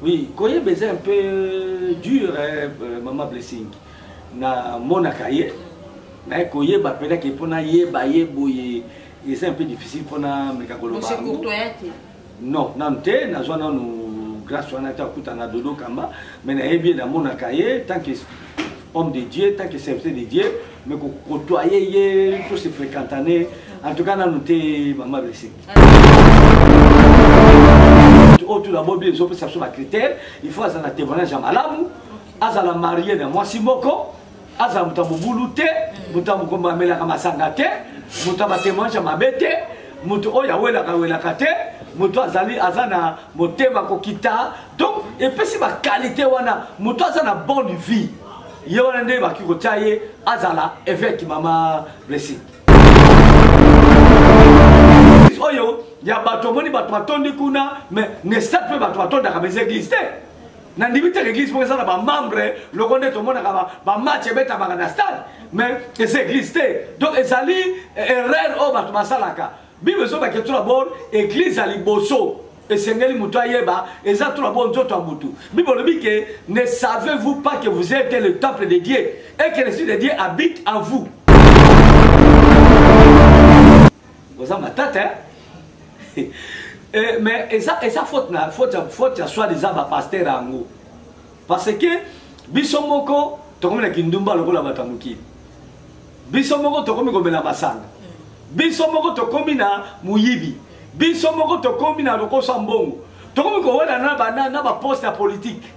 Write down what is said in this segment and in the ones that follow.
Oui, koyeba eza un peu dur eh, euh, maman blessing na monaka ye naye koyeba mpena ke mpo nayeba ye boye eza un peu difficile mpo nameka koloba non nanu te nazwa nanu grâce wana te akuta na dodo kamba mais nayebi ye namonaka ye tant que homme de dieu tant que serviteur de dieu mais kokotoye ye to se fréquentane en tout cas nanu te mama blessing oyo tuna bobi ezopesa biso bacritère il faut azala na témoignage ya malamu azala marie na mwasi moko azala moto ya mobulu te moto ya mokombo amelaka masanga te moto ya batémoignage ya mabe te moto oyo awelaka awelaka te moto azali aza na motema kokita donc epesi bakalite wana moto aza na bonne vie ye wana nde bakoki kotya ye azala évêque mama blessing oyo ya bato omoni bato batondi kuna me nesat mpe bato batondaka mes église te nandimi te l'église moko eza na bamembre loko nde tomonaka bamatch ebetamaka na stade mais eza église te donc ezali eh, erreur oyo bato basalaka bible ezobake to dabord eglize ya liboso esengeli moto ayeba eza to dabord nzoto ya motu bible olobi ke ne savez vous pas que vous êtes le temple de dieu et que l'esprit de dieu habite en vous oza matata hein? Eh, mais eza, eza faute na faute, faute ya soit disant bapaster yango parce que biso moko tokomi na kindumba lokola bato ya mokili biso moko tokomi komela masanga biso moko tokomi na moyibi biso moko tokomi na lokoso ya mbongo tokomi kowela na baposte ya politike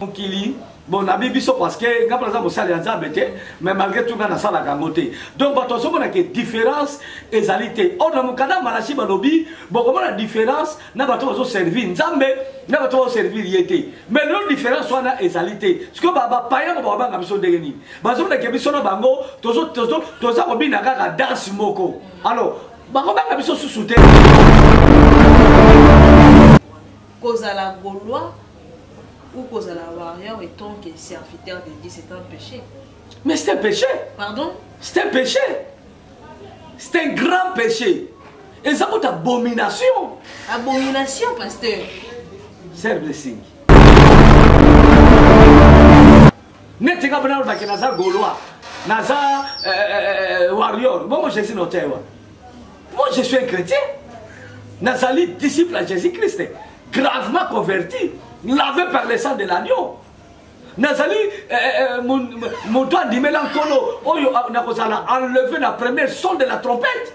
mokili bonabi biso parceke ngai mpo naza mosali ya nzambe te mais malgré tout ngai nasalaka yango te donc bato bazomona ke différence ezali te or na mokanda malachi balobi bokomona différence na bato bazoservir nzambe na bato bazoservir ye te mais lelo différence wana ezali te sikoyo bapaya yango bakobanga biso ndenge nini bazoleke biso na bango toza kobina kaka danse moko alors bakobanga biso susu te kozala gaulois ou kozala warrior etant que serviteur de dieu c'est un péché mais c'est un péché pardon c'est un péché c'est un grand péché eza kuta abomination abomination pasteur serve le singi neti nga mpena olobaki naza gaulois naza euh, euh, euh, warrior bongo jésus notai wana moi je suis un chrétien nazali disciple ya jésus christ gravement converti lavé par le sang de l'agneau nazali moto andimela nkolo oyo nakozala enlevé na première son de la trompette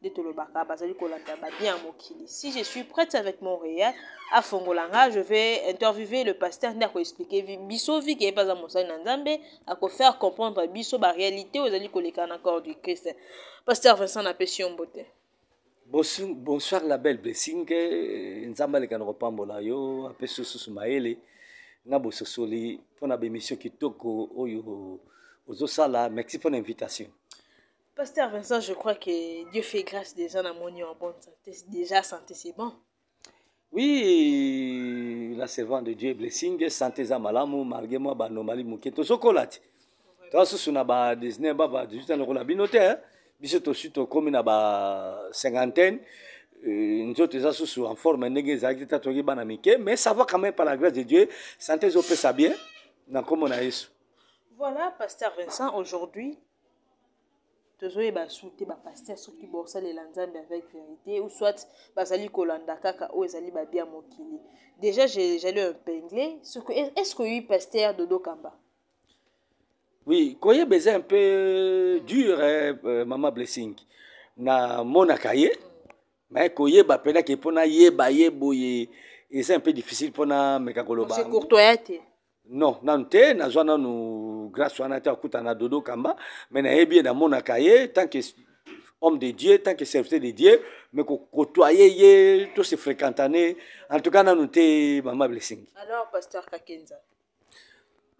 nde tolobaka bazali kolanda babien ya mokili si je suis prête avec montréal afongola nga je vais interviewer le pasteur nde akoexplike biso vi ke ye mpe aza mosali na nzambe akofaire comprendre biso baréalité oyo ezali koleka na corps du christ pasteur vincent napesi yo mbote bonsoir la belle blessing eh, nzambe aleka na kopambola yo apesi osusu mayele na bososoli mpo na bemission kitoko oyo ozosala merci mpo na invitation Pasteur Vincent, je crois que Dieu fait grâce déjà na moni en bonne santé. Déjà santé c'est bon. Oui, la servante de Dieu blessing, santé za malamu malgré moi ba normali muke to sokola ti. To susu na ba 19 ba ba 18 ans kola bino te. Hein? Biso to susu to komi na ba cinquantaine. Euh, nzoto eza susu en forme ndenge ezalaki te toki bana mike mais ça va quand même par la grâce de dieu santé ezopesa bien na nkombo na yesu voilà pasteur vincent aujourd'hui tozoyeba su te bapaster soki bosalela nzambe avec verité ou soit bazali kolanda kaka oyo ezali babi ya mokili déjà jali impingle soki est ce que oyebi paster dodo kamba oui koyeba eza un peu dur eh, euh, mama blessing namonaka ye me koyeba mpenaki mpo nayeba ye boye eza un peu difficile mpo nameka koloba courtoya te non nanu te nazwa nanu grâce wana te akutana na dodo kamba me nayebi ye namonaka ye tant que homme de dieu tant que serviteur de dieu me kokotoye ye to se fréquentane en tout cas nanu te mama blessing alors pasteur kakenza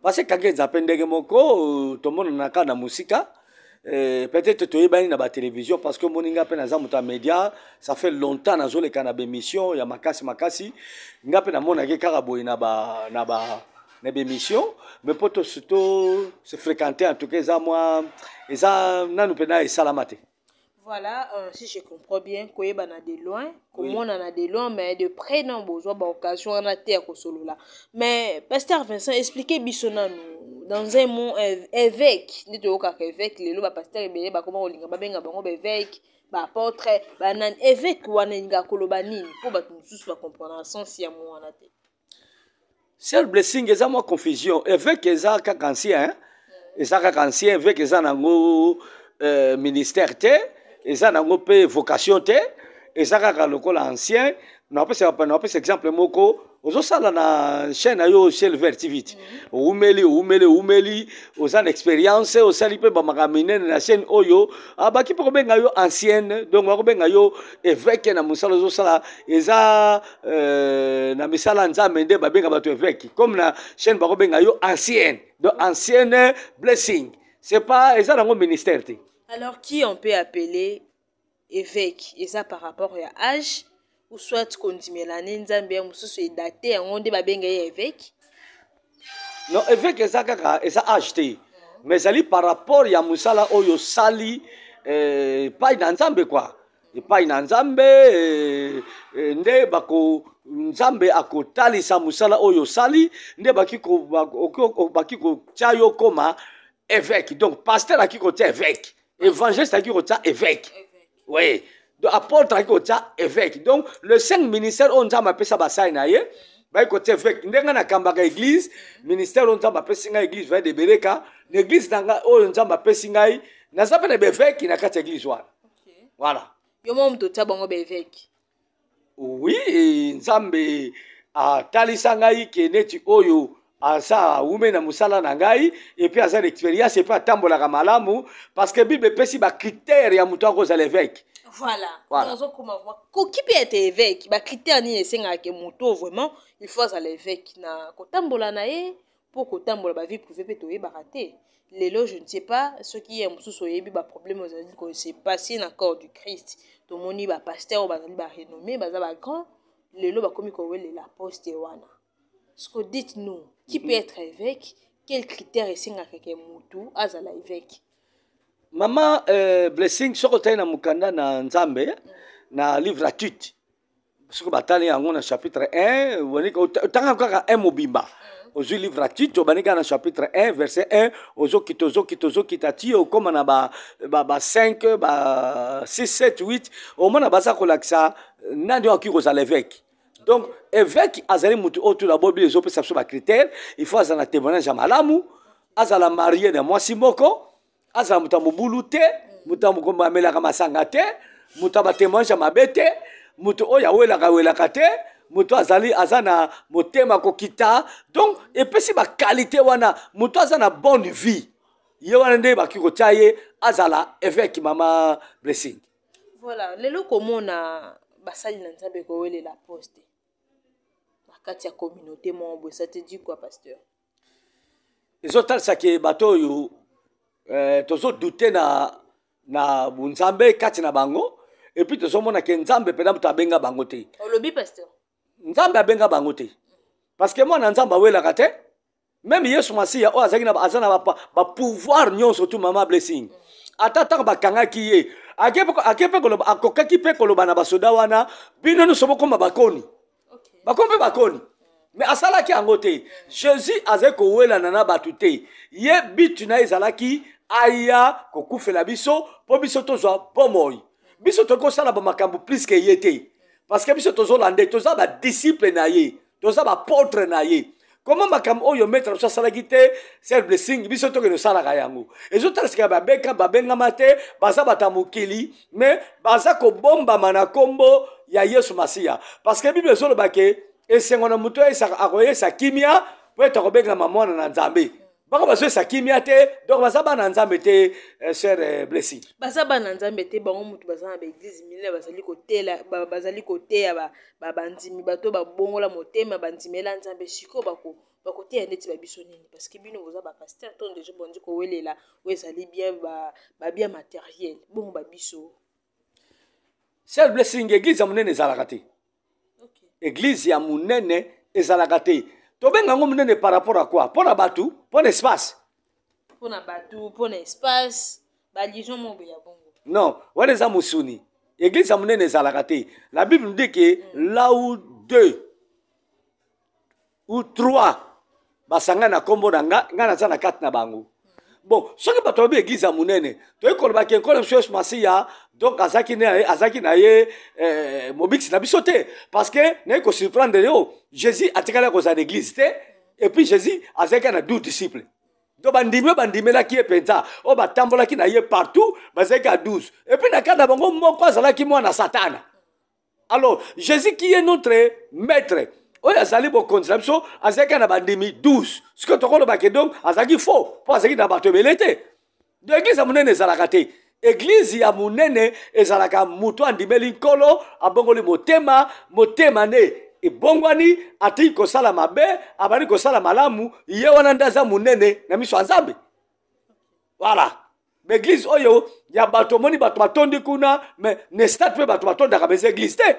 parce que kakenza mpe ndenge moko tomonanaka na mosika Eh, peut-être toyebani na batelevision parce que omoni ngai mpe naza moto ya média ça fait longtemps nazoleka na bémission ya makasi makasi ngai mpe namonaki kaka boye na ba, na ba, na bémission mais mpo to se fréquente en tout cas eza mwa eza nanu mpenza esalama te Voilà, euh, si je comprends bien, koyebana de loin, komonana oui. de loin, mais de près non bozo ba occasion wana te ya kosolola. Mais pasteur Vincent expliquez biso nanu dans un mot évêque, nde toyokaka évêque lelo ba pasteur ebele bakoma kolinga babenga bango ba évêque, ba apôtre, ba nani évêque wana elinga koloba nini mpo bato mosusu ba comprendre sens ya mwana te. sel blessing eza mwa confusion eveke eza kaka ancien hein? eza kaka ancien eveke eza nango euh, ministère te eza nango mpe vocation te eza kaka lokola ancien napesa exemple moko ozosala na chaîne na yo ciel vert tv ti owumeli owumeli owumeli oza na expérience osali mpe bamakambo minene na chaîne oyo abaki mpe kobenga yo ancienne donc akobenga yo évêque na mosala ozosala eza euh, na misala ya nzambe nde babenga bato eveke comme na chaîne bakobenga yo ancienne donc ancienne blessing c'est pas eza nango ministère te alors qui on peut appeler évêque eza par rapport ya âge ou soit kondimela ne nzambe ya mosusu edate yango nde babenga ye évêque non évêque eza kaka eza age te mhm. mais ezali par rapport ya mosala oyo osali eh, pai na nzambe kua epai na nzambe eh, eh, nde bako nzambe akotalisa mosala oyo osali nde baki kotya yo koma évêque donc pasteur aki kotya évêque évangéliste aki kotya évêque oui donc apôtre aki kotya évêque donc le cinq ministère oyo nzambe apesa basali na ye baki kotya évêque nde ngai nakambaka église ministère oyo nzambe apesi ngai église vade bereka na église na ngai oyo nzambe apesi ngai naza mpe na baevêque na kati ya église wana voilà yo moko moto otya bango baeveke oui nzambe atalisa ngai ke neti oyo aza awume na mosala na ngai epuis aza na expérience epuis atambolaka malamu parce que bible epesi bacritère ya moto akozala eveke voilà ozokoma voilà. koki mpe ete eveke bacritère nini esengaka ke moto vraiment il faut azala eveke na kotambola na ye mpo kotambola bavie privé mpe toyebaka te lelo je ne sais pas soki ye mosusu oyebi baproblème ozali kose passe na corps du christ tomoni bapaster oyo bazali barenommé baza bagrand lelo bakomi kowelela poste wana sco dite nous qui peut être évêque quel critère esengaka ke motu azala évêque mama euh, blessing soki otali na mokanda na nzambe na livre atute soki batali yango na chapitre 1 otanga kaka 1 mobimba mm. ozwi livre ya tito obandi kaka na chapitre 1 verset 1 ozokita ozokita ozokita ti okóma na ba 5 ba 6 7 8 omona baza kolakisa euh, nani oyo akoki kozala eveke donc eveke azali motu oyo tula bobili ezopesa biso bacritère il faut azala na témoignage ya malamu azala marie na mwasi moko azala moto ya mobulu te moto ya mokombo amelaka masanga te moto ya batemoignage ya mabe te moto oyo awelaka welaka te moto azali aza na motema kokita donc epesi bakalite wana moto aza na bonne vie ye wana nde bakoki kotya ye azala evêque mama blessing voilà lelo komona basali na nzambe kowelela poste na kati ya communauté moko boye ça te dit quoi pasteur ezotalisa ke bato oyo eh, tozodute na, na bonzambe kati na bango epuis tozomona ke nzambe mpenza moto abenga bango te olobi pasteur nzambe abenga bango te parce que mwana nzambe awelaka te meme yesu masiya oyo azalaki aza na bapouvoir nyonso tu mama blessing ata ntango bakangaki ye ake mpe koloba akokaki mpe koloba na basoda wana bino nyonso bokoma bakoni bakomi mpe bakoni me asalaki yango te jésus azali kowelana na bato te ye bitu na ye ezalaki aya kokufela biso mpo biso tozwa bomoi biso tokoki kosala bamakambo plus ke ye te parce que biso tozolanda ye toza badisiple na ye toza bapotre na ye koma makambo oyo maître biso asalaki te sel blessing biso tokende osalaka yango ezotalasika babeka babengama te baza bato ya mokili me baza kobombama na nkombo ya yesu masiya parce que bible ezoloba ke esengo na moto akoyesa kimia mpo ete akobengama mwana na nzambe bango bazoyesa kimia te donc baza bana nzambe te eh, sœur eh, blessi baza bana nzambe te bango motu baza na baeglize minene bazali kotela bazali koteya bandimi bato babongola motema bandimela nzambe sikoyo bako bakoteya ndeti ba biso nini parce que bino boza ba pasteur ntongo deja bondi kowelela oyo ezali bien babien materiel bongo ba biso sel blessing eglize ya monene ezalaka te eglize ya monene ezalaka te tobenga yango monene par rapport à quoi mpo na bato mpo na espace mpo na bato mpo na espace balision moko ya bongo non wana eza mosuni eglize ya monene ezalaka te la bible dit ke mm. lau deux ou trois basangani na nkombo na nga ngai naza na kati na bango bon soki bato babi eglize ya monene toyei koloba ke nkolo biso yesu masiya donc azalaki azalaki na ye eh, mobikisi na biso te parce que naye kosurprendre yo jésus atikali ya kozala na eglize te et puis jésus azalaki na 12 disciples donc bandimi oyo bandimelaki ye mpenza oyo batambolaki na ye partout bazalaki ya 12 epuis na kati na bango moko azalaki mwana satana alors jésus qui est notre maître oyo azali bokonzi na biso azalaki na bandimi 12 sikoyo tokolobake donc azalaki faux mpo azalaki na bato ebele te do eglize ya monene ezalaka te eglize ya monene ezalaka moto andimeli nkolo abongoli motema motema nde ebongwani atiki kosala mabe abandi kosala malamu ye wana nde aza monene na miso ya nzambe voilà baeglise oyo ya bato omoni bato batondi kuna me na stade mpe bato batondaka mais eglise te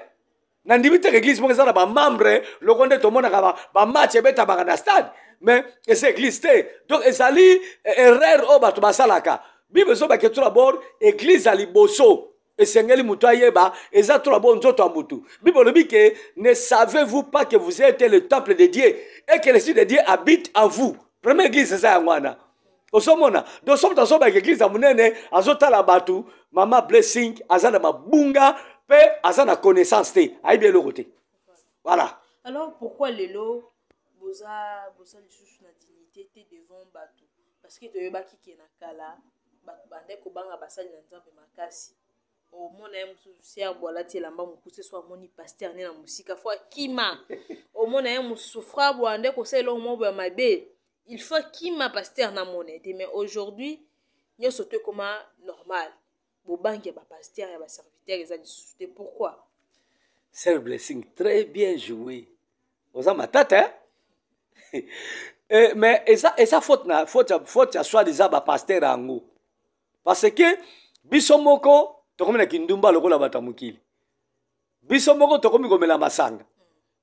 nandimi te eglise moko eza na bamembre loko nde tomonaka bamatch ebetamaka na stade mais eza eglise te donc ezali eh, erreur oyo bato basalaka bible ezobaka etu na bord eglise ya liboso esengeli moto ayeba eza to na bo nzoto ya motu bible olobi ke ne savez vous pas que vous ete le temple de dieu et que l'esprit de dieu habite en vous première église eza yango wana ozomona donc soki moto azobaka église ya monene azotala bato mama blessing aza na mabunga mpe aza na connaissance te ayebi eloko te voilà alors pourquoi lelo boza boza lisusu na dignité te devant bato parceke toyebaki ke na kala bato bandaki kobanga basali na nzambe makasi omona ye mosusu serbo alati elamba mokuse so amoni paster ne na mosika fo akima omona ye mosusu frabo ande kosala eloko moko ya mabe il faut akima paster na mona ete mais aujourd'hui nyonso to ekoma normal bobangi ya ba pasteur ya ba serviteur eza lisusu te pourquoi sœur blessing très bien joué oza matata hein? eh, mais eza, eza faute na faute, faute ya soit disant ba pasteur yango parce que biso moko tokomi na kindumba lokola bato ya mokili biso moko tokomi komela masanga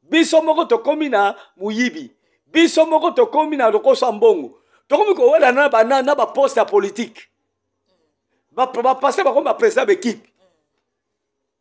biso moko tokomi na moyibi biso moko tokomi na lokoso ya mbongo tokomi kowelana na, na baposte ya politike bapaster bakomi baprésident baekipe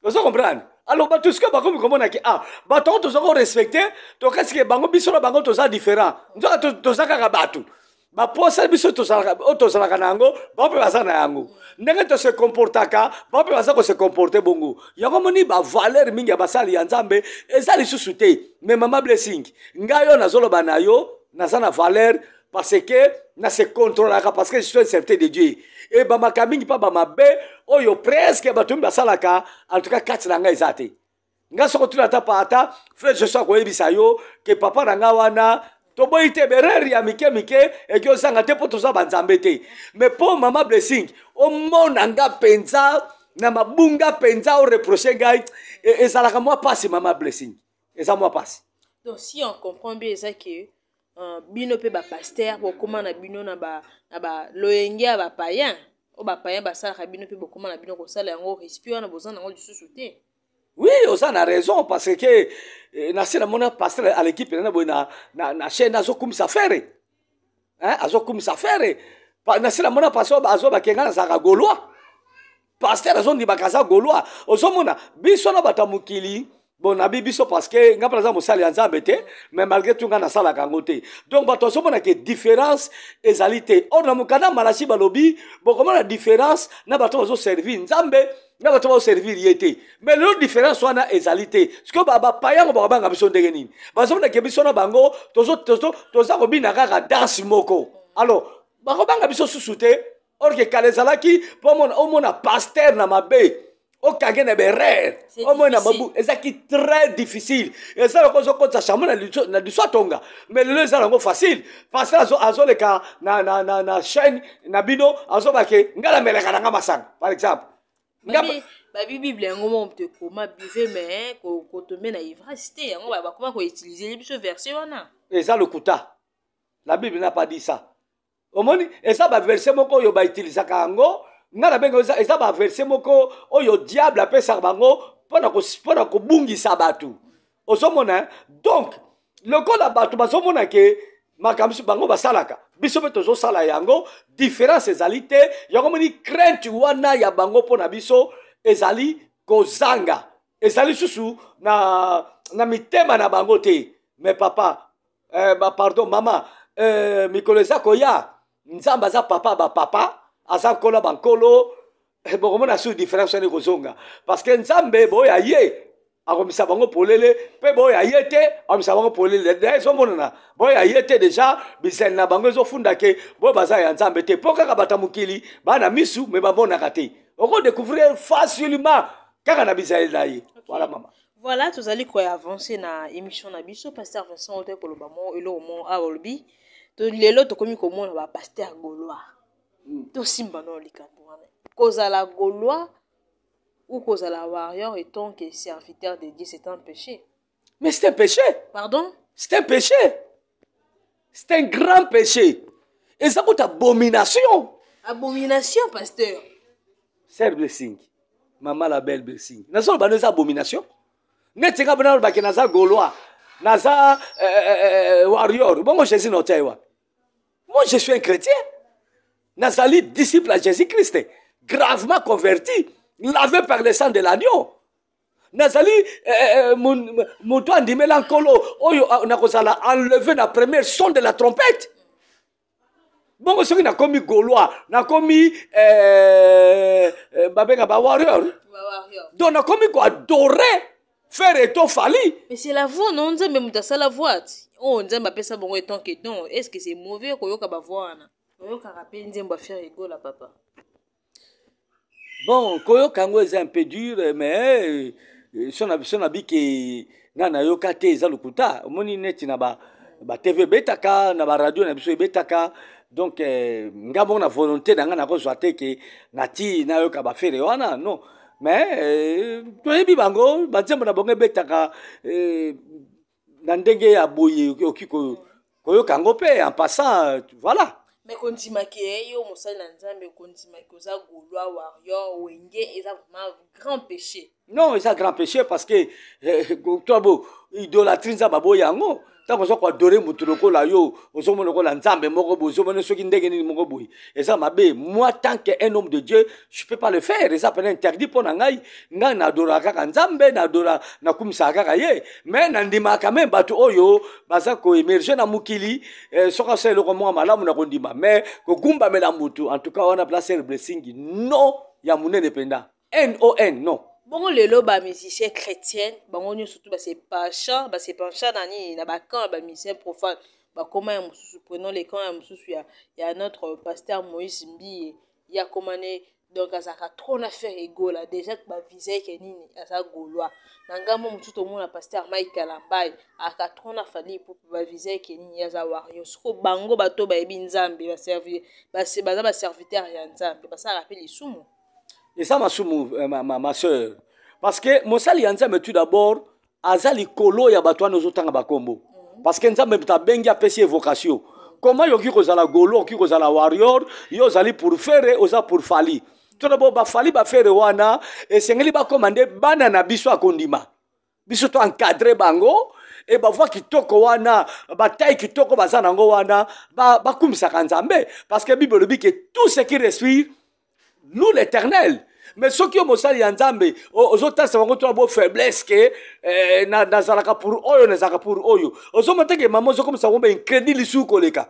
ozo comprendre alors bato sikoyo bakomi komona ke ah bato yango toza korespecte tokasi ke bango biso na bango toza différent nzoka toza kaka bato baposa biso tozalaka oyo tozalaka na yango bango mpe baza na yango ndenge tose comportaka bango mpe baza kose comporte bongo yango moni bavaler mingi ya basali ya nzambe eza lisusu te me mama blessing ngai oyo nazoloba na yo naza na valeur parce que na se controlaka parce que je suis un serviteur de dieu ebamaka mingi mpa bamabe oyo presque bato mingi basalaka en tout cas kati na ngai eza te nga soko tuna ata pa ata frère joshua koyebisa yo ke papa na nga wana toboyi te berere ya mike mike eki ozanga te mpo toza banzambe te mais mpo mama blessing omona nga mpenza na mabunga mpenza oreproche ngai e, ezalaka mwa mpasi mama blessing eza mwa mpasi donc si on comprend bien eza ke uh, bino mpe bapaster bokóma na bino na baloyenge ya bapayen oyo bapayen basalaka bino mpe bokóma na bino kosala yango respect wana boza na yango lisusu te oui oza na raison parce que eh, na se namona pasteur à l'équipe na boye na, na, na chaîne azokumisa fere hein? azokumisa fere na se namona pasteur azo bakenga nazalaka gaulois pasteur azondimaka aza gaulois ozomona biso na bato ya mokili bon nabi biso parce que nga mpe naza mosali ya nzambe te mais malgré tout nga nasalaka yango te donc bato azomona ke différence ezali te or na mokanda malachi balobi bokomona différence na bato bazoservir nzambe na bato baoservir ye te mais lelo différence wana ezali te sikoyo bapaya yango bakobanga biso ndenge nini bazomdake biso na bango toza kobina kaka danse moko alors bakobanga biso susu te orke kala ezalaki mpo omona paster na mabe okange na berere omona mabu ezalaki très difficile eza loko ozokotisa chambre na liso atonga mais lelo eza yango facile paster azoleka na chaîne na bino azoba ke nga na melaka na nga masanga par exemple babi bible yango moko moto ekoma bive me eh, kotombe na ivrasi te yango bakoma koutilize biso verse wana eza lokuta la bible na pas dit ça omoni eza baverse moko oyo bautilisaka yango nga na benga eza baverse moko oyo diable apesaka bango mpo na kobungisa bato ozomona eh? donc lokola bato bazomona ke makambo mosusu bango basalaka biso mpe tozosala yango différence ezali te yango moni crainte wana ya bango mpo na biso ezali kozanga ezali susu na, na mitema na bango te me papa eh, ba, pardon mama eh, mikolo eza koya nzambe aza papa bapapa aza nkolo bankolo eh, bokomona sur différence wana ekozonga parce que nzambe boyo aye akomisa bango polele mpe boyo aye te akomisa bango polele da ezomonana boyo aye te deja bizali na bango ezofunda ke boyo baza ya nzambe te mpo kaka bata mokili bana misu me bamonaka te okodecouvrir facilement kaka na bizali na ye voilà mama voilà tozali koya avance na émission na biso pasteur vincent otoki koloba mo eloko mo aolobi lelo tokomi komona bapaster gaulois hmm. tosimba nao likambo wana kozala gaulois ou kozala warrior etant que serviteur de dieu c'est un péché mais c'est un péché pardon c'est un péché c'est un grand péché eza kuta abomination abomination pasteur ser blessing mama la belle blessing nazoloba no eza abomination neti nga bana olobake naza gaulois naza euh, euh, euh, warrior bongo jésus naotya ye wapi Moi, je suis un chrétien. Nazali, disciple à Jésus-Christ, gravement converti, lavé par le sang de l'agneau. nazali eh, eh, eh, moto andimela nkolo oyo ah, nakozala enlevé na première son de la trompette bongo soki nakomi gaulois nakomi babenga bawarrior donc nakomi koadore Ferre et toi Fally. Mais c'est la voix non nzambe muta sala voix. Oh nzambe apesa bongo etant que ton. Est-ce que c'est mauvais ko yoka ba voix wana? Oyokaka pe nzembo ya Ferre Gola papa. Bon, koyoka yango eza un peu dur mais euh, son abi son abi ke nga nayoka te eza lokuta. Omoni neti na ba ba TV ebetaka na ba radio na biso ebetaka donc euh, nga moko na volonté na nga nakozwa te ke nati nayoka ba Ferre wana non. mais euh, toyebi bango banzembo na bango ebetaka euh, na ndenge ya boye okoki koyoka yango mpe en passant voilà me kondimaki ye yo mosali na nzambe okondimaki oza golois warrior wenge eza vraiment grand péché non eza grand péché parce que eh, eh, tobo idolatrie nzambe aboyi yango ntango oza koadore motu lokola yo ozomona lokola nzambe moko boye ozomona soki ndenge nini moko boye eza mabe moi tant que un homme de dieu je peux pas le faire eza pena interdit mpo na ngai ngai naadoraka kaka nzambe naadora nakumisaka kaka ye mais nandimaka me bato oyo baza koemerge na mokili eh, soki asala eloko moko malamu na kondima mais kogumbamela motu en tout cas wana place blessing non ya monene mpenza non non bongo lelo ba musicien chrétienne bango nyonso tu basepencha basepencha na nini na bacamp ya bamusicien profane bakoma ya mosusu prenons le camp ya mosusu ya, ya notre pasteur moïse mbiye ye akoma ne donc azalaka trop na faire egola déjà bavisa eke nini aza golois na ngambo mosusu tomona pasteur mike kalambai aka trop na fali pupu bavisa eke nini ye aza wario soko bango bato bayebi nzambe baza baserviteur ya nzambe basalaka mpe lisumu eza masumu eh, ma, ma, ma soeur parce que mosali ya nzambe tout d'abord aza likolo ya bato wana ozotanga bakombo mhm. parce que nzambe moto abengi apesi evocation koma yoki kozala golo okoki kozala warrior yo ozali pour fere oza pour fali tona bo bafali bafere wana esengeli bakoma nde bana na biso akondima biso to encadre bango e bavua kitoko wana batai kitoko baza na yango wana bakumisaka ba nzambe parce que bible elobi ke tout ce qui respire loue l'éternel mais soki yo mosali ya nzambe ozotalisa bango tona bo faiblesse ke eh, nazalaka pour oyo nazalaka pour oyo ozomata ke mama ozokomisa bango ba incredi lisusu koleka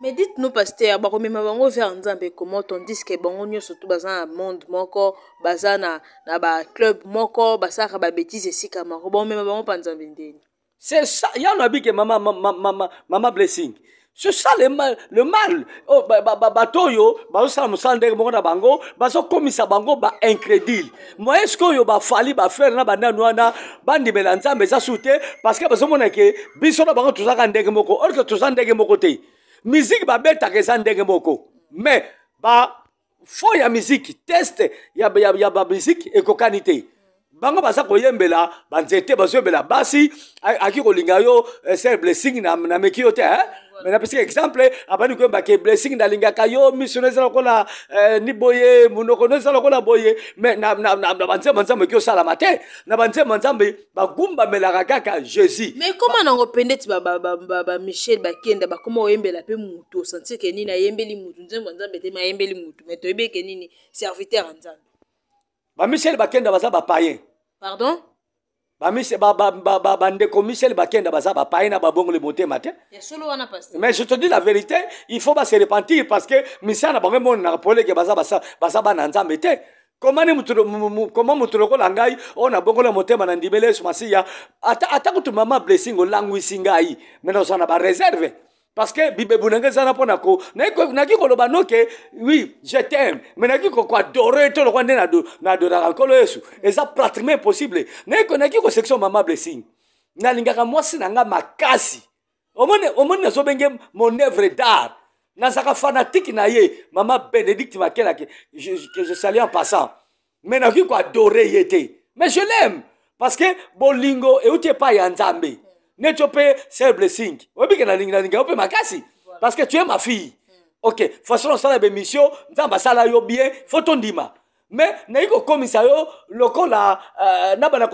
mais dites nous pasteur bakomema bango vers nzambe comment on dis que bango nyonso tu baza na monde moko baza na, na baclub moko basalaka babétise esika moko bakomema bango mpa nzambe ndeni c'est ça ya na bike mama, mama, mama, mama blessing c'est ça le mal, le mal. Oh, bato oyo bazosala mosala ndenge moko na bango bazokomisa bango baincrédule moye sikoyo bafali bafere na bandani wana bandimela nzambe eza su te parceke bazomona ke biso na bango tozalaka ndenge moko orke toza ndenge moko te miziki babetaka eza ndenge moko mais ba fo ya miziki teste ya, ya, ya bamiziki ekokani te bango baza koyembela banzete bazoyembela basi aki kolinga yo eh, ser blessing nameki yo te eh? mais napesaka exemple abandi koyemba ke blessing nalingaka yo miso no eza lokola eh, ni boye monoko no eza lokola boye mais na banzembo nzambe eki osalama te na banzembo nzambe bagumbamelaka kaka jésus mais koma nango pendeti bamichel bakenda bakoma oyembela mpe motu osantir ke nini ayembeli motu nzembo nzambe te mayembeli motu mais toyebi eke nini serviteur ya nzambe bamichel bakenda baza bapayen pardon bandeko misele bakenda baza bapaye na babongoli motema te mais je te dis la vérité il faut base repentir parce que misala na bango emonanaka poleke baza bana nzambe te koma moto lokola ngai oyo nabongoli ya motema na ndimeli yesu masiya ata kutu mama blessing olangwisi ngai me nazala na bareserve parce que bibebu na ngai eza na mpo na ko naki koloba noke oui je t'aime mais naki koadore to lokwa nde na adoraka nkolo yesu eza pratiquement impossible naki kosection mama blessing nalingaka mwasi na ngai makasi omoni omoni nazobenge mon œuvre d'art nazalaka fanatike na ye mama benedicte makelake que je salue en passant mais nakoki koadore ye te mais je l'aime parce que bolingo euti epai ya nzambe neti yo mpe sel blessing oyebi ke nalingi nalinga yo mpe makasi parce que tu es ma fille ok façon osala bemission nzambe asala yo bien fo tondima me nayi kokomisa yo lokola uh, na bana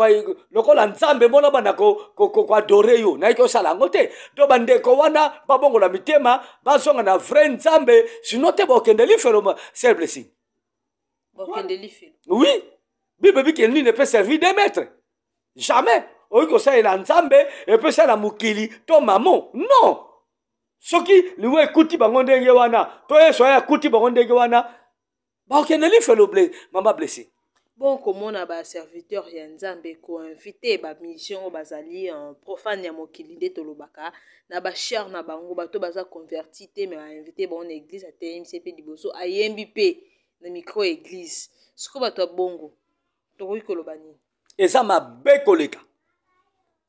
lokola nzambe mo na bana koadore yo nayi kosala yango te to bandeko wana babongola mitema bazonga na vrai nzambe sino te bokende lifelo sel blessing bokende lifelo oui bible ebi ke nini epe servir de maître jamais okoki kosalela nzambe epe osalela mokili to mamo non soki liwa ekuti bango ndenge wana to yesu aya akuti bango ndenge wana bakokende lifelo ble mama blessing bon komona baserviteur ya nzambe koinvite bamission oyo bazali euh, profane ya mokili nde tolobaka na ba char na bango bato baza converti te me bainvite bango na eglise ateyemisi mpe liboso ayembi mpe na micro ya eglise siko bato ya bongo tokoki koloba nini eza mabe koleka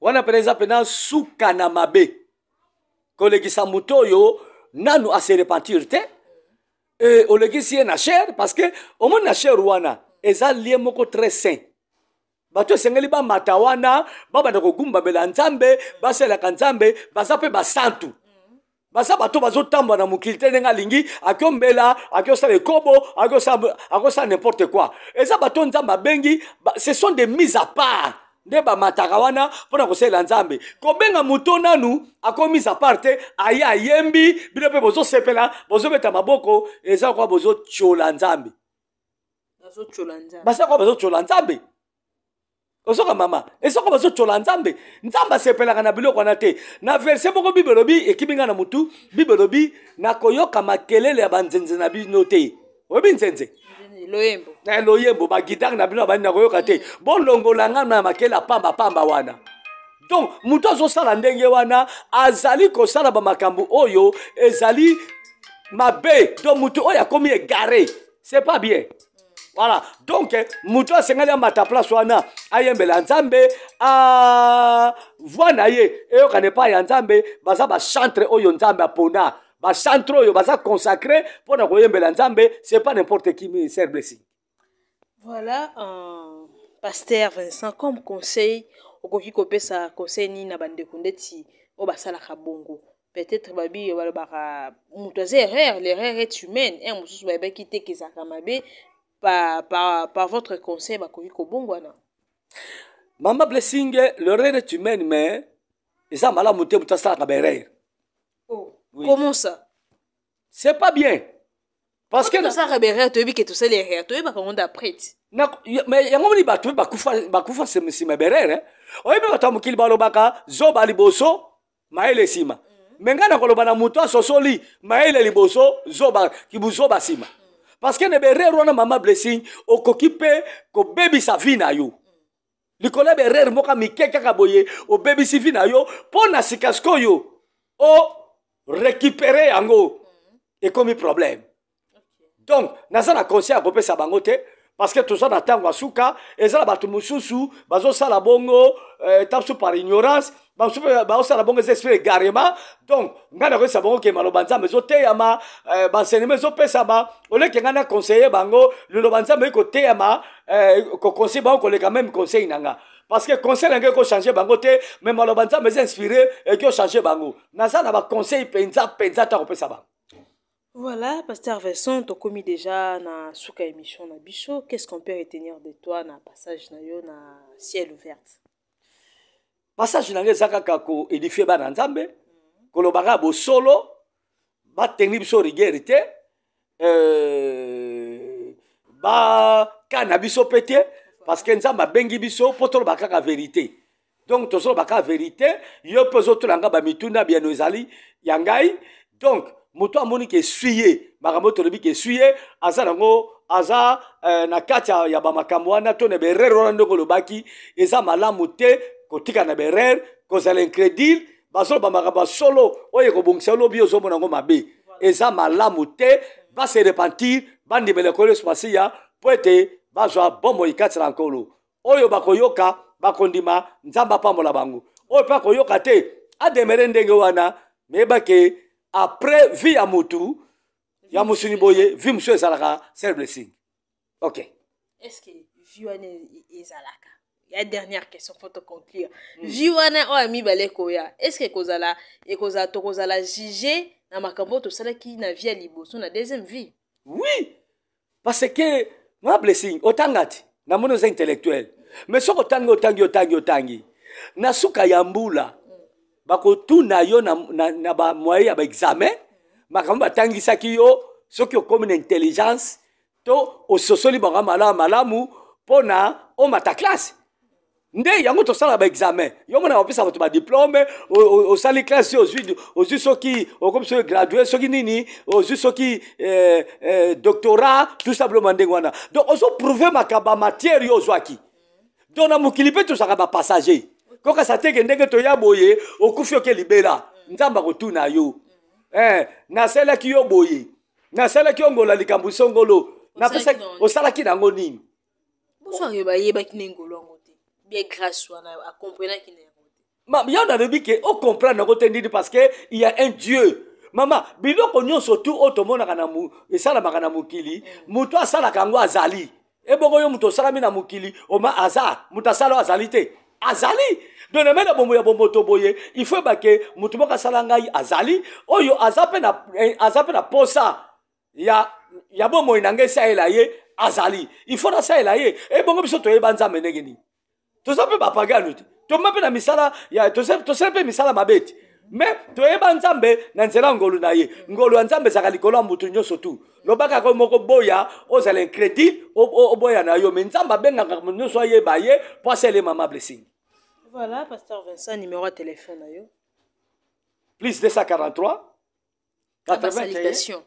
wana mpena eza mpena suka na mabe kolekisa moto oyo nanu ase repentir te e, olekisi ye na chere parce que omoni na chere wana eza lie moko très saint bato esengeli bamata wana babanda kogumbamela nzambe basalelaka nzambe baza mpe basantu baza bato bazotambola na mokili te ndenge alingi akiombela akiosala ekobo akosala n'importe quoi eza bato nzambe abengi ce sont des mise à part nde bamataka wana mpo na kosalela nzambe kobenga moto nanu akomisa part te aye ayembi bino mpe bozosepela bozobeta maboko eza kwa bozotyola nzambe basaka bazotyola nzambe ozoka mama esoko bazotyola nzambe nzambe asepelaka na biloko wana te na verse moko bible elobi ekimi ngai na motu bible elobi nakoyoka makelele ya banzenze na bino te oyebi nzenze loyembo na eh, loyembo bagitare na bino abandi nakoyoka te bolongola ngai na makele ya pambapamba wana donc moto azosala ndenge wana azali kosala bamakambo oyo ezali mabe to moto oyo akomi egare c'est pas bien voilà donc moto asengeli amata place wana ayembela nzambe a voi na ye eyokana epai ya nzambe baza bachantre oyo nzambe apona bachantre oyo baza consacré mpo na koyembela nzambe c'est pas n'importe qui ministère blessing voilà euh, pasteur vincent comme conseil okoki kopesa conseil nini na bandeko ndeti oyo basalaka bongo peut-être babiye balobaka moto aza erreur l'erreur est humaine heure mosusu bayebaki te kezalaka mabe par, par, par votre conseil bakoki kobongwana mama blessing l'erreur est humaine mais eza malamu te moto asalaka baerreur oh, oui. comment ça c'est pas bien parce que tosalaka baerreur toyebi ke tosali erreur toyebaka ngo d'après ti mais yango moni bato bakufa nsima baerreur oyebi bato ya mokili balobaka zoba liboso mayele nsima mm. me ngai nakoloba na moto asosoli mayele liboso zoba kibuzoba nsima parceke na berere wana mama blessing okoki mpe kobebisa vi na yo likolo ya berere moko mike kaka boye obebisi vi na yo mpo na sika sikoyo o rekipere yango ekomi probleme donc naza na conseil ya kopesa bango te parce que toza na ntango ya suka eza na bato mosusu bazosala bongo euh, ta mosusu par ignorance bamosusu mpe baosala bongo eza esprit egarema donc ngai nakoyesa bango ke maloba nzambe ezoteyama euh, baenseignement ezopesama oleke ngai na conseiller bango liloba nzambe oyi koteyama euh, koconseille bango koleka meme conseil na ngai parce que conseil na ngai ekochange bango te mais maloba nzambe eza inspire eki ochange bango naza na baconseil mpenza mpenza ntango opesa bango Voilà, Pasteur Vincent, tokomi déjà na suka émission na biso. Qu'est-ce qu'on peut retenir de toi na passage na yo na ciel ouverte? Passage na eza kaka ko édifier bana Nzambe, koloba kaka bosolo, ba tenir biso rigueur te, euh, ba kana biso pete parce que Nzambe abengi biso po toloba kaka vérité. donc tozoloba kaka verité yo mpe ozotola ngai bamituna biano ezali ya ngai donc moto amoni ke eswi ye makambo oyo tolobi ke eswi ye aza nango aza eh, na kati ya, ya bamakambo wana to na berere wana ndenge olobaki eza malamu te kotika na berere kozala incrédule bazoloba makambo ya solo oyo ekobongisa olobi ozomona yango mabe eza malamu te base repentir bandimela ekolo yesu masiya mpo ete bazwa bomoi kati na nkolo oyo bakoyoka bakondima nzambe apambola bango oyo mpe akoyoka te ademere ndenge wana meyeba ke après vie ya motu ya mosuni boye vie mosusu ezalaka sel blessing ok est ce que vie wana ezalaka ya dernière question faut te conclure mm. vie wana oyo ya mibale koya est ce que ekozala ekozala tokozala juge na makambo oyo tosalaki na vie ya liboso na deuxième vie oui parce que ma blessing otanga ti namoni oza intellectuel mais soki otangi otangi otangi otangi na suka ya mbula bakotuna yo na, na, na bamoye ya baexamen makambo batangisaki yo soki okomi na intelligence to ososoli bango malamu malamu mpo na omata classe nde yango tosala ba examen yo mona opesa bato badiplome osali classe ozwi ozwi soki okomi soki gradue soki nini ozwi soki eh, eh, doctorat tout simplement ndenge wana donc ozoprouve makambo ya matière yo ozwaki donc na mokili mpe tozalaka bapassager kokasa teke ndenge toya boye okufi oke libela nzambe akotuna yo eh, nasalaki yo boye nasalaki yo ngola likambo isongolo osalaki nango nini bonsoir yo bayebaki nde ngolo yango te bie grâce wana akomprenaki na yango te yo nalobi ke ocomprendre yango te ndini parce que il y a un dieu mama biloko nyonso tu oyo tomonaka na esalamaka na mokili mm. moto asalaka yango azali ebongo yo moto osalami na mokili oma aza moto asala oyo azali te azali doneme na bomoi ya bomoto boye ifo ebake moto moko asala ngai azali oyo aza mpe na eh, posa ya, ya bomoi na ngai esalela ye azali ifo nasalela ye ebongo eh, biso toyeba nzambe ndenge nini toza mpe bapagano te toma mpe na misala tosala mpe misala mabe te me toyeba nzambe na nzela ya ngolu na ye ngolu ya nzambe ezalaka likolo ya motu nyonso tu lobaka ko moko boya ozala incrédule oboya na yo me nzambe abengaka moto nyonso ayeba ye mpo asala ye mama blessing voilà pasteur vincent numéro ya telefone na yo plus 243 80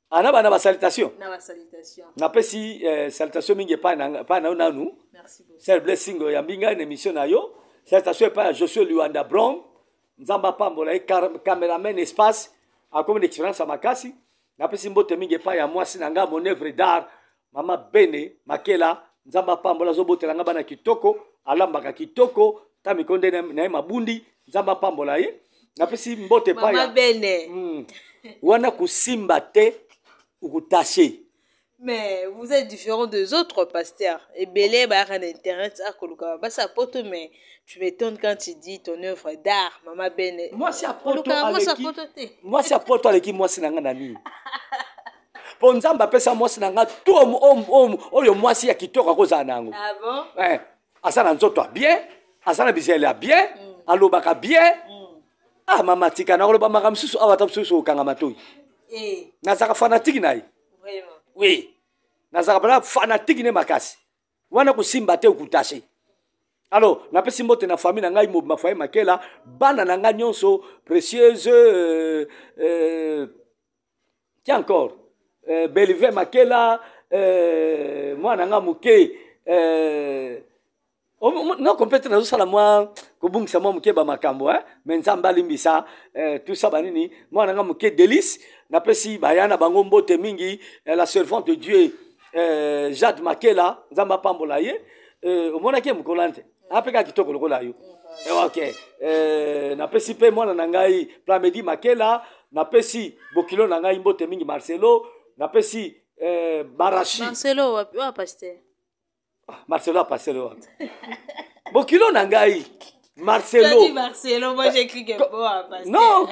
ana ah, bana basalitation napesi eh, salitation mingi epai na yo nanu sel blessing oyambi ngai na émission na yo salitation epai ya josue liwanda brom nzambe apambola ye cameraman espace akomi na expérience ya makasi napesi mbote mingi epai ya mwasi na ngai mon œuvre d'art mama bene makela nzambe apambola azobotela nga bana kitoko alambaka kitoko ta mikonde na ye mabundi nzambe apambola ye napesi mbote paya bene mm. wana kosimba te okutashe mais vous êtes différent des autres pasteur ebele bayaka na internet akoluka basi ya poto mais tu m'étonnes quand tu dis ton œuvre d'art mama bene mwasi ya poto aleki mwasi na ngai na nini mpo nzambe apesa mwasi na ngai to oyo mwasi ya kitoko akozala na yango ah eh, aza na nzoto ya bien aza na bizele ya bien mm. alobaka bien mm. ah mama tika nakoloba maka mosusu awa ata mosusu okanga matoi eh. nazaka fanatiki na ye oui nazaka mpena fanatiki ne makasi wana kosimba te okutashe alors napesi mbote na famille na ngai mobima faye makela bana na ngai nyonso précieuse euh, euh, ti encore euh, belive makela euh, mwana nga moke euh, noko mpe te nazosala mwa kobungisa mwa moke bamakambo eh? me nzambe alimbisa eh, tusa banini mwana nga moke delice napesi baya na bango mbote mingi eh, la servante de dieu eh, jade makela nzambe apambola ye eh, omonaki ye mokolo ante apeka kitoko lokola yo eh, ok eh, napesi mpe mwana na ngai plamedi makela napesi bokilo na ngai mbote mingi marcelo napesi eh, barashi marcelo wapi wa pasteur ah, marcelo ya pasteur wapi bokilo na ngai marcelo dit marcelo moi j'ai cru que bon à pasteur non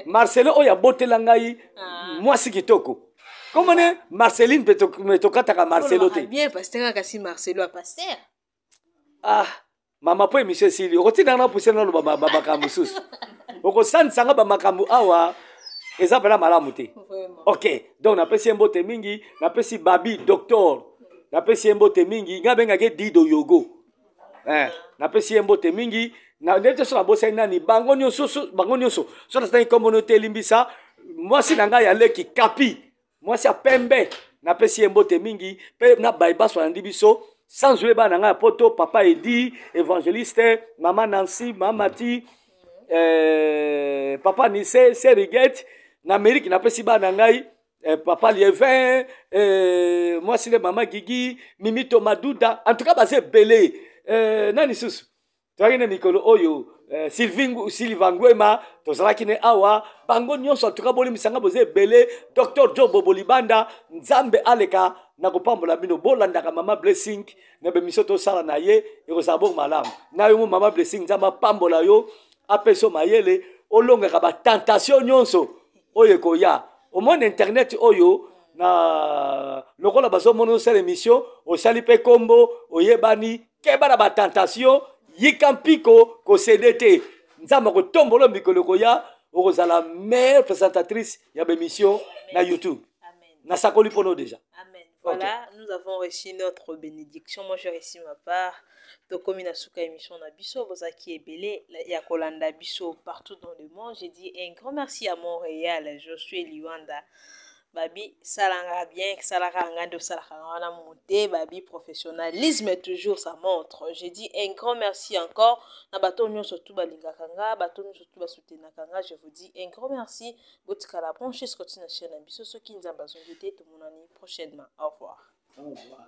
marcelo oyo abotela ngai ah. mwasi kitoko komone marceline mpe tokataka marcelo te bien pasteur kasi marcelo ya pasteur ah mama mpo emission esili okotindaka na pusene naloba bamakambo mosusu okosandisa nga bamakambo awa eza mpena malamu te ok donc napesi ye mbote mingi napesi babi docteur napesi ye mbote mingi nga abengaki ye dido yogo eh, napesi ye mbote mingi ndete so nabosani nani bango nyonso bango nyonso so natangi nkombo no te elimbisa mwasi na ngai ya leki kapi mwasi ya pembe napesi ye mbote mingi mpe na baye baso alandi biso sans oye bana na ngai ya poto papa edi évangéliste mama nancy mamati eh, papa nise serigete na amerike napesi bana na ngai eh, papa lievin eh, mwasi nde mama gigi mimito maduda en tout cas baza ebele eh, nani susu toyaki na mikolo oyo eh, silva nguema tozalaki ne awa bango nyonso atuka bolimisanga boza ebele docteur jobo bolibanda nzambe aleka na kopambola bino bolandaka mama blessing na bemisio tosala na ye ekozala bongo malamu na yo mo mama blessing nzambe apambola yo apesi yo mayele olongaka batentation nyonso oyo ekoya omoni internet oyo na lokola bazomona osala emission osali mpe nkombo oyebani keba na batentation yika mpiko kosede te nzambe akotombolo mikolo ekoya okozala meilleure présentatrice ya bémission na youtube nasakoli mpo no déjà Voilà, okay. nous avons reçu notre bénédiction. Moi, j'ai reçu ma part. tokomi na suka émission na biso bozalaki ebele ya kolanda biso partout dans le monde j'ai dit un grand merci à montréal josué liwanda babi salanga bien salaka nga nde osalaka nga wana mute babi professionnalisme toujours ça montre je dis un grand merci encore na bato oyo nyonso tu balingaka nga bato oyo nyonso tu basoutenaka nga je vous dis un grand merci botikala branche scoti na chaine na biso soki nzambe azongi te tomonani prochainement au revoir, au revoir.